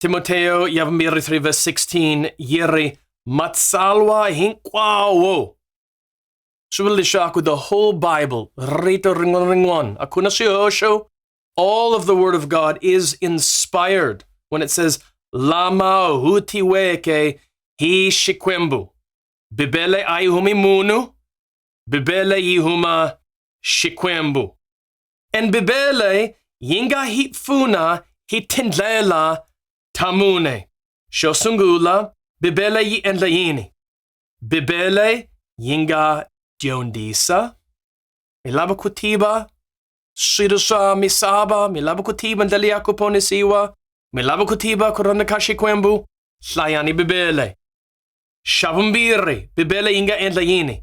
Timoteo Yavamiri 3 verse 16 yi ri matsalwa hinkwawo swi vula leswaku the whole bible rito rin'wana rin'wana a ku na swihoxo all of the word of god is inspired when it says lama hutiweke hi xikwembu bibele a yi humi munhu bibele yi huma xikwembu En bibele yinga hi pfuna hi tindlela ta mune. Xo sungula, Bibele yi endla yini? Bibele yi nga dyondzisa. Mi lava ku tiva swilo swa misava, mi lava ku tiva ndlela ya ku ponisiwa, mi lava ku tiva ku rhandza ka Xikwembu, hlayani Bibele. Xa vumbirhi, Bibele yi nga endla yini?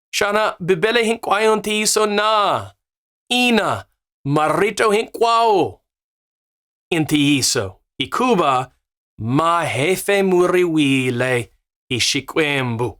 xana Bibele hinkwayo ntiyiso na? Ina, marito hinkwawo i ntiyiso hikuva ma hefemuriwile hi Xikwembu.